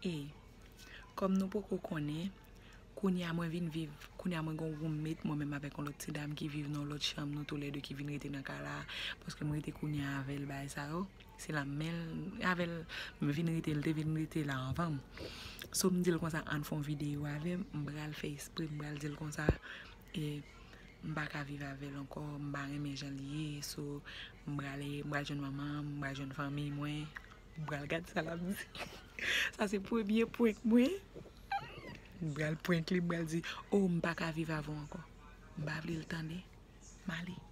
E, kòm nou poko konnen, kounye a mwen vin viv, kounye a mwen gen yon roommate mwen menm avèk yon lòt ti dam ki viv nan yon lòt chanm, nou tou lè 2 ki vin rete nan kay la, paske m rete kounye a avè l bagay sa yo, se la men l, avè l m vin rete, l te vin rete la anvan m. So m di l konsa ann fè yon videyo avè m, m pral fè espre m pral di l konsa e m pa ka viv avè l ankò, m pa renmen jan l ye, so m prale, m pral jwenn manman m, m pral jwenn fanmiy mwen. Mpral gad sa lap di. Sa se premye prank mwen. Mpral prank li mpral di oh mpaka viv avè w ankò. Mpa vle l tande. Male.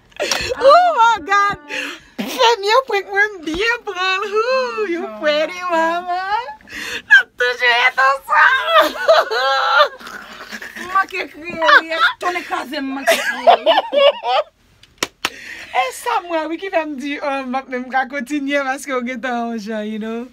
Oh my god! Premye prank mwen m byen pranl hoo you pretty mama Nap toujou ret ansanm M manke kriye wi e tonnè kraze m manke kriye wi. E sam wè wi ki fèm di oh m pap menm ka kontinye paske ou gentan yon jan you know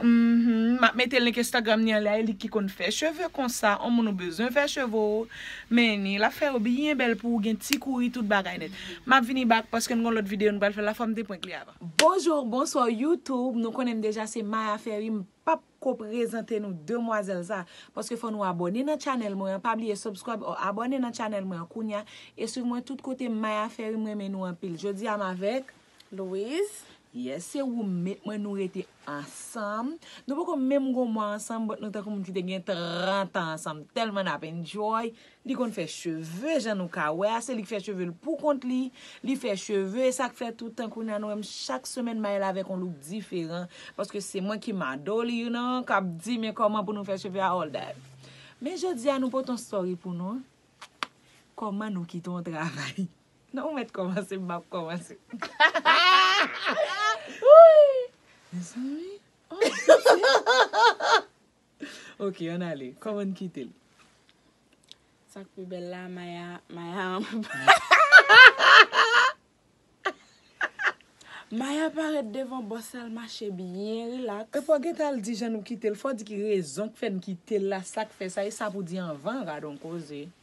Mph map mete link Instagram ni anlè elik ki konn fè cheve konsa on moun ou bezwen fè cheve w. Men ni lap fè yo byen bèl pouw gen ti kouri tout bagay nèt. Map vini back paske n gon lòt video n pral fè la fòm te prank li avan. Bonjour bonsoir YouTube nou konnen m deja se Maya Ferry m pap ko prezante nou demwazèl sa paske fò nou abòne nan channel mwen an pa bliye subscribe or abòne nan channel mwen an kounya e swiv mwen tout kote Maya Ferry m renmen nou anpil jodi a m avèk Louise. Yes se roommate mwen nou rete ansanm nou poko menm gon mwa ansanm but nou tankou moun ki te gen 30 ans ansanm telman nap enjoy li konn fè cheve jan nou ka wè a se li ki fè chevel pou kont li li fè cheve esak fè tout tan kounya nou wèm chak semèn mayel avèk on look diferan paske se mwen ki mado li you know kap di men koman pou nou fè cheve a all that men jodia nou pot on story pou nou koman nou kite on travay. Non ou met komanse map komanse. Mezanmi oh. Ok an ale koman n kite l. Sak pi bel la maya maya anba balcon. Maya paret devan bos la l mache byen relax. Epi wap gentan al di jan nou kite l fò di ki rezon k fè n kite l la sak fè sa e sa pou di anvan radon koze.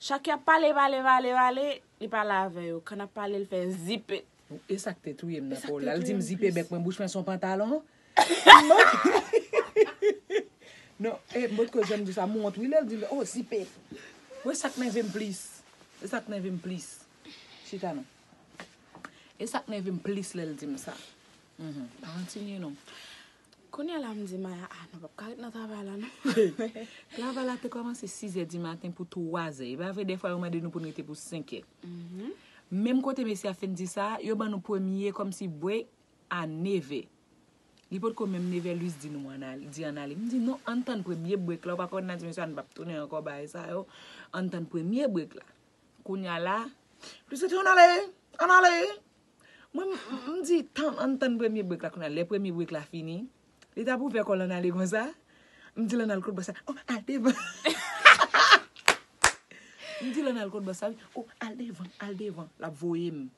Chak yap pale pale pale pale li pale avè yo kan ap pale li fè zipe. Esak te touyem nan paw lal dim zipe bèk mwen bouch mwen son pantalon non e m potko janm disa m wont wi lèl dim oh zipe bon esak nèvem plis esak nèvem plis chita non esak nèvem plis lèl dim sa m pa kontinye non. Kounye a la m di Maya, ah nou pap ka ret nan travay la non. Travay la te kòmanse 6 zè di maten pou 3 zè. E pa vre dèfwa yo mande nou pou n rete pou 5 è. Menm kote mesye a fin di sa, yo ban nou premye kòmsi break a 9 è. Li potko menm 9 è Luis di nou an ale, di an ale. M di non, ann tann premye break la, ou pa konn nan di mesye a nou pap tounen ankò bagay sa yo. Ann tann premye break la. Kounye a la, Luis a di ann ale, ann ale. Mwen m di tann ann tann premye break la kounya lè premye break la fini li tap ouvè kòl ann ale konsa m di l ann al kot bossa oh al devan m di l ann al kot bossa wi oh al devan al devan lap voye m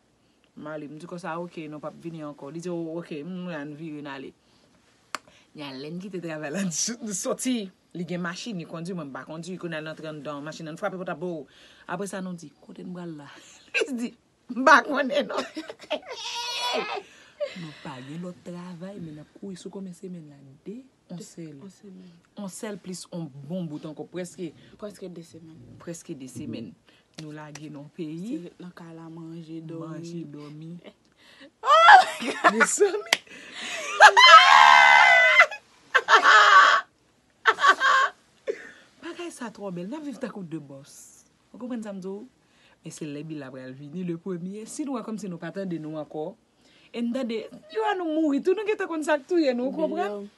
m ale m di konsa ok non pap vini ankò li di oh ok m wè ann vire n ale kounya lè n kite travay la n soti li gen machin li kondi mwen m pa kondi kounya n antre anndan machin nan n frape pòt la boo apresa nou di kote n pral la li di M pa konnen non. Nou pa gen lòt travay men nap kouri sou konbyen semèn la? 2? On sèl. On semèn. On sèl plis on bon bout ankò prèske. Prèske 2 semèn. Prèske 2 semèn. Nou lage nan peyi. Se ret nan kay la manje, dòmi. Manje, dòmi. Oh my God! Mezanmi! Bagay sa twò bèl. Nap viv tankou 2 bòs. Ou konprann sa m di w? Men se lè bil la pral vini le premye, si nou wè kòmsi nou pa tande nou ankò, e n tande, yo a nou mouri tou, nou gentan konn sa k touye nou, ou konprann?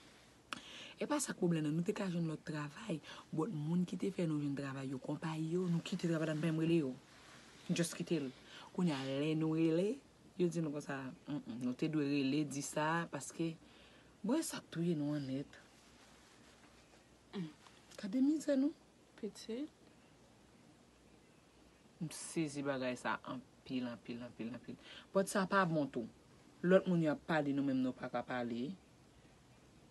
E pa sa k pwoblèm nan, nou te ka jwenn lòt travay, bòt moun ki te fè nou jwenn travay yo, konpayi yo, nou kite travay la, nou pa menm rele yo. Nou just kite l. Kounye a, lè nou rele, yo di nou konsa, m m, nou te dwe rele di sa, paske, bon e sa k touye nou an nèt? Gade mizè nou. Pitit. M sezi bagay sa anpil anpil anpil anpil. But sa pa bon tou. Lot moun yo ap pale nou menm nou paka pale.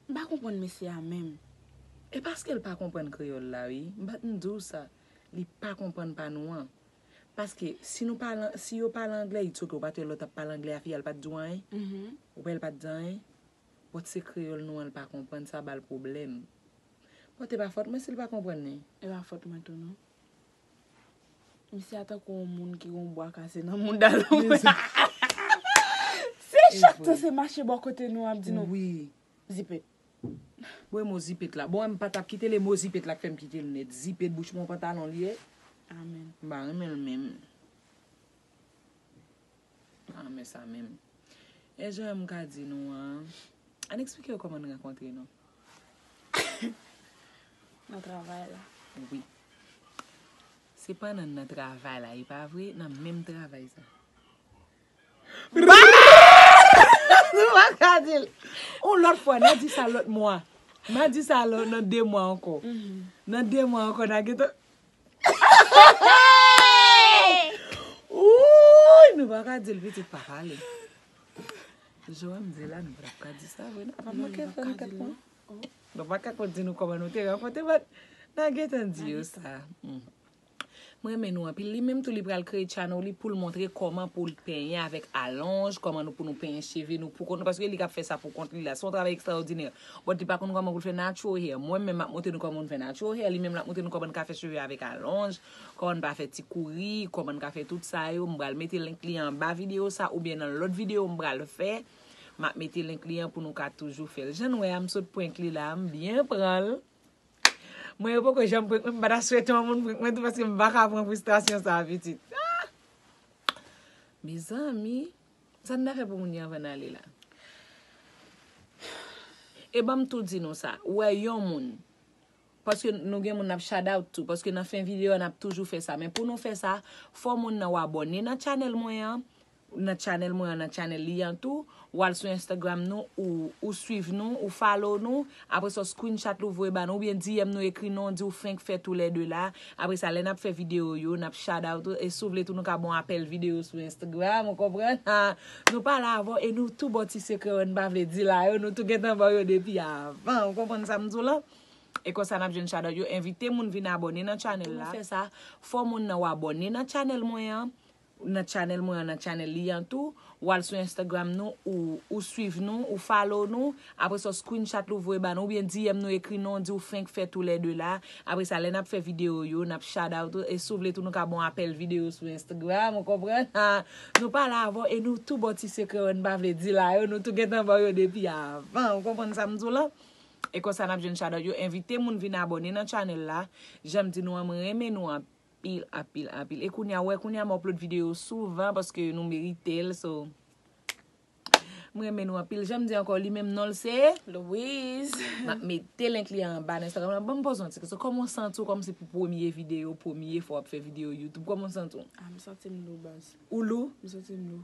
M pa konprann mesye a menm. E paskel pa konprann kreyol la wi m pat m diw sa li pa konprann pa nou an paske si nou pale si yo pale anglè it's ok ou pat wè lòt ap pale anglè a fi a l pat diw anyen ou wè l pat di anyen. But se kreyol nou an l pa konprann sa bal pwoblem. But e pa fot mwen si l pa konprann li. E pa fot mwen tou non. Misye a tankou yon moun ki gen yon bwa kase nan mouda l wi. Se chak tan se mache bò kote nou ap di nou zipet. Bon e mo zipet la. Bon m pa tap kitel e mo zipet la k fè m kitel nèt. Zipet bouch mwen pantalon li ye. Amen. M pa renmen l menm. Ah men sa menm. E jan m ka di nou an. Ann eksplike yo kòman n rankontre nou. Nan travay la. Wi. Se pa nan nan travay la e pa vre? Nan menm travay sa. Nou pa ka di l. On lòt fwa n a di sa lòt mwa. N a di sa nan 2 mwa ankò. Nan 2 mwa ankò n a gentan. Oouyy nou pa ka dil pitit pa pale. Jan wèm di la nou pa tap ka di sa vre nan pa manke fè nou kèt pwen. Nou pa ka konn di nou kòman nou te rankontre bat nan gentan di yo sa. M renmen nou anpil li menm tou li pral kreye channel li poul montre kòman poul penyen avèk alonj, kòman nou pou nou penyen cheve nou poukont nou paske li kap fè sa poukont li la son travay ekstraòdinè. But li pa konn koman pou l fè natural hair. Mwen menm map montre nou koman pou nou fè natural hair, li menm lap montre nou koman n ka fè cheve avèk alonj, koman n pa fè ti kouri, koman n ka fè tout sa yo, m pral mete link li anba video sa oubyen nan lòt video m pral fè, map mete link li an pou nou ka toujou fè l. Jan n wè a m sot prank li la a, m byen pran l. Mwen yo poko janm prank mwen, m pa ta swete yon moun prank mwen tou paske m pa ka pran fristrasyon sa a pitit. Mezanmi! Sa n ta fè pou moun yo anvan n ale la? E ban m tou di nou sa, ou wè yon moun, paske nou gen moun n ap shout out tou, paske nan fen videyo a n ap toujou fè sa, men pou nou fè sa, fò moun nan ou abòne nan channel mwen an, nan channel mwen an, nan channel li an tou, ou al sou Instagram nou, ou swiv nou, ou follow nou, Apresa w screenshot l ou voye ba nou oubyen DM nou ekri non di w fenk fè tou lè 2 la. Apresa lè nap fè video yo nap shoutout ou e si w vle tou nou ka ba w apèl video sou Instagram ou konprann ha. Nou pale avè w e nou tou ba w ti sekrè yo n pa vle di la yo nou tou gentan ba w yo depi avan ou konprann sa m di w lan. E konsa nap jwenn shoutout yo. Envite moun vin abòne nan channel la. Pou nou fè sa fò moun nan w abòne nan channel mwen an. nan channel mwen an nan channel li an tou ou al sou Instagram nou ou swiv nou ou follow nou apre sa ou screenshot li ou voye ba nou oubyen DM nou ekri nou di ou fenk fè tou lè 2 la apre sa lè nap fè video yo nap shout out ou e si ou vle tou nou ka ba w apèl video sou Instagram ou konprann ha nou pale avè w e nou tou ba w ti sekrè yo nou pa vle di la yo nou tou gentan ba w yo depi avan ou konprann sa m di w la e konsa nap jwenn shout out yo envite moun vin abòne nan channel la janm di nou an m renmen nou anpil. Apil apil apil e kounya wè kounya m upload video souvan paske nou merite l so m renmen nou anpil janm di ankò li menm non l se Louise m ap mete link li anba nan Instagram la banm poze yon ti kesyon kòman w santi w kòm se pou premye video premye fwa w ap fè video youtube kòman w santi w? Ah m santim lou baz. Ou lou? M santim lou.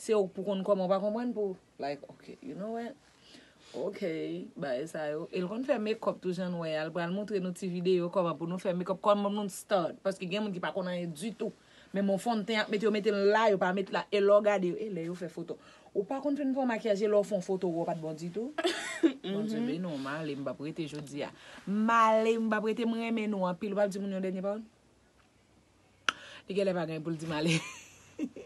Se ou k pou konn kòman ou pa konprann pou like ok you know what ok bagay sa yo el konn fè mekòp tou jan nou wè al pral moutre nou ti video kòman pou nou fè mekòp kòman pou nou start paske gen moun ki pa konn anyen ditou men bon fon ten ak met yo metel la yo pa met la e lèw gade yo e lè yo fè foto ou pa konn fin fon makyaj e lèw fon foto ou wè ou pat bon ditou Bondye beni w male m pap rete jodia male m pap rete m renmen nou anpil ou pap di moun yon dènye pawòl li genlè pa gen poul di male.